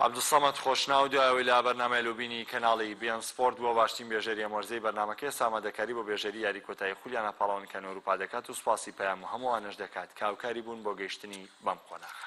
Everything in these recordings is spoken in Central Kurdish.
عەبدولسەمەد خۆشناو دوای ئەوەی لە بەرنامەی لۆبینی کەناڵی، بی ئێن سپۆرت، بووە باشترین بێژەری ئەم وەرزەی بەرنامەکە ئێستا ئامادەکاری بۆ بێژەری یاری کۆتایی خولیانا پاڵەوان کەنو ئەوروپا دەکات و سوپاسی پەیام و هەموو ئەوانەش دەکات کە هاوکاری بوون بۆ گەیشتنی بەم قۆناغە.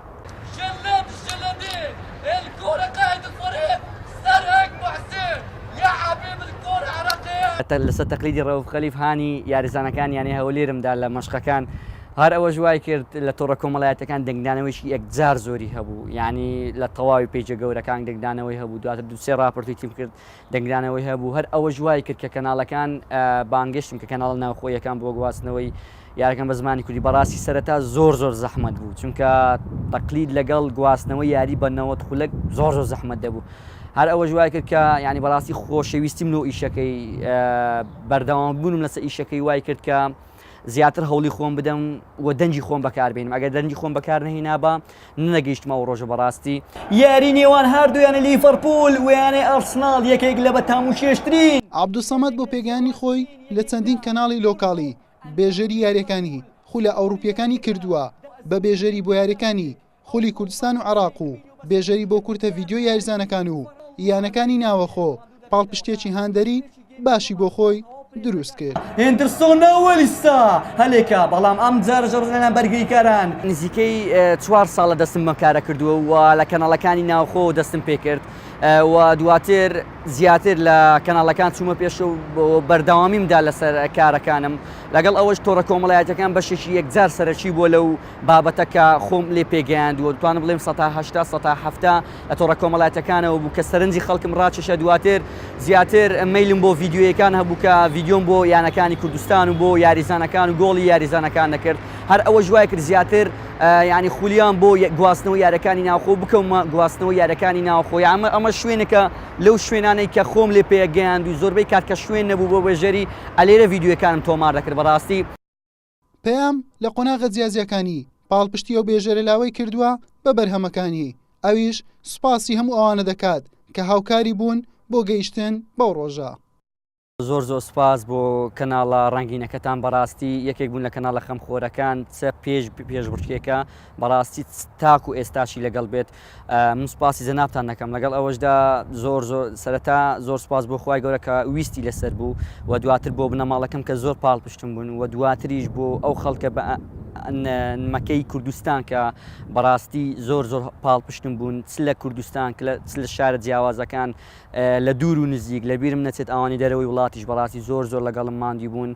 لەسەر تەقلیدی رەوف خەلیف هانی یاریزانەکانی یانەی هەولێرم دا لە مەشقەکان، هەر ئەوەش وایکرد لە تۆڕە کۆمەڵایەتییەکان دەنگدانەوەیەکی یەکجار زۆری هەبوو، یانی لە تەواوی پەیجە گەورەکان دەنگدانەوەی هەبوو، دواتر دوو سێ راپۆرتی تیم کرد، دەنگدانەوەی هەبوو، هەر ئەوەش وای کرد کە کەناڵەکان بانگێشتن کە کەناڵە ناوخۆییەکان بۆ گواستنەوەی یاریەکان بە زمانی کوردی بەڕاستی سەرەتا زۆر زۆر زەحمەت بوو چونکە تەقلید لەگەڵ گواستنەوەی یاری بە نەوەد خولەک زۆر زۆر زەحمەت دەبوو هەر ئەوەش وای کرد کە ینی بەڕاستی خۆشەویستیم لۆ ئیشەکەی بەردەوام بوونم لەسەر ئیشەکەی وای کرد کە زیاتر هەوڵی خۆم بدەم و دەنگی خۆم بەکاربێنم ئەگەر دەنگی خۆم بەکار نەهینابا نەگەیشتمە ئەو ڕۆژە بەڕاستی یاری نێوان هاردوو یانە لیڤەرپوول و یانەی ئەرسناڵ یەکێک لە بە تاموچێژترین عەبدولسەمەد بۆ پێگەیاندنی خۆی لە چەندین کەناڵی لۆکاڵی، بێژەری یارییەکانی خولە ئەوروپییەکانی کردووە بە بێژەری بۆ یارییەکانی خولی کوردستان و عێراق و بێژەری بۆ کورتە ڤیدیۆی یاریزانەکان و یانەکانی ناوەخۆ پاڵپشتێکی هاندەری باشی بۆ خۆی دروست کرد هێندرسۆنەوەلیستا هەلێکە بەڵام ئەم جارە ژەڕزانە بەرگریکاران نزیکەی چوار ساڵە دەستم مەکارە کردووە و لە کەناڵەکانی ناوخۆ دەستم پێ کرد و دواتر زیاتر لە کەناڵەکان چوومە پێش و بەردەوامیم دا لەسەر کارەکانم لەگەڵ ئەوەش تۆڕە کۆمەڵایەتەکان بەشێکی یەکجار سەرەکی بووە لەو بابەتە کە خۆم لێ پێگەیاندووە، دەتوانم بڵێم سەتا هەشتا سەتا حەفتا لە تۆڕە کۆمەڵاتیەکانەوە بوو کە سەرنجی خەڵکم ڕاکێشا دواتر زیاتر مەیلم بۆ ڤیدیۆیەکان هەبوو کە ڤیدیۆم بۆ یانەکانی کوردستان و بۆ یاریزانەکان و گۆڵی یاریزانەکان دەکرد هەر ئەوەش وای کرد زیاتر یانی خولیام بۆ گواستنەوە یارەکانی ناوخۆ بکەومە گواستنەوە یارەکانی ناوخۆی ئەمە ئەمە شوێنەکە لەو شوێنانەی کە خۆم لێ پێگەیاند و زۆربەی کات کە شوێن نەبوو بۆ بێژەری ئەلێرە ڤیدیۆەکانم تۆمار دەکرد بەڕاستی پەیام لە قۆناغە جیاجیاکانی پاڵپشتی ئەو بێژەرە لاوەی کردووە بە بەرهەمەکانی، ئەویش سوپاسی هەموو ئەوانە دەکات کە هاوکاری بوون بۆ گەیشتن بەو ڕۆژە. زۆر زۆر سوپاس بۆ کەناڵە ڕەنگینەکەتان بەڕاستی یەکێک بوون لە کەناڵە خەمخۆرەکان چ پێش پێشبڕکێکە بەڕاستی تاکو ئێستاشی لەگەڵ بێت من سوپاسی جەنابتان نەکەم لەگەڵ ئەوەشدا زۆر زۆر سەرەتا زۆر سپاس بۆ خخوای گەورە کە ویستی لەسەر بوو و دواتر بۆ بنەماڵەکەم کە زۆر پاڵ پشتم بوون و دواتریش بۆ ئەو خەڵکە بە مەکەی کوردستان کە بەڕاستی زۆر زۆر پاڵ پشتم بوون چ لە کوردستان چ لە شارە جیاوازەکان لە دوور و نزیک لە بیرم نەچێت ئەوانی دەرەوەی وڵاتیش بەڕاستی زۆر زۆر لەگەڵم ماندی بوون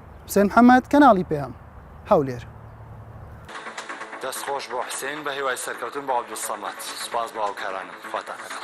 حسێن محەمەد، کەناڵی پەیام، هەولێر. دەست خۆش بۆ حسین بەهیوای سەرکەوتن بۆ عبدالصمد سوپاس بۆ هاوکارانم خواتان لەگەڵ.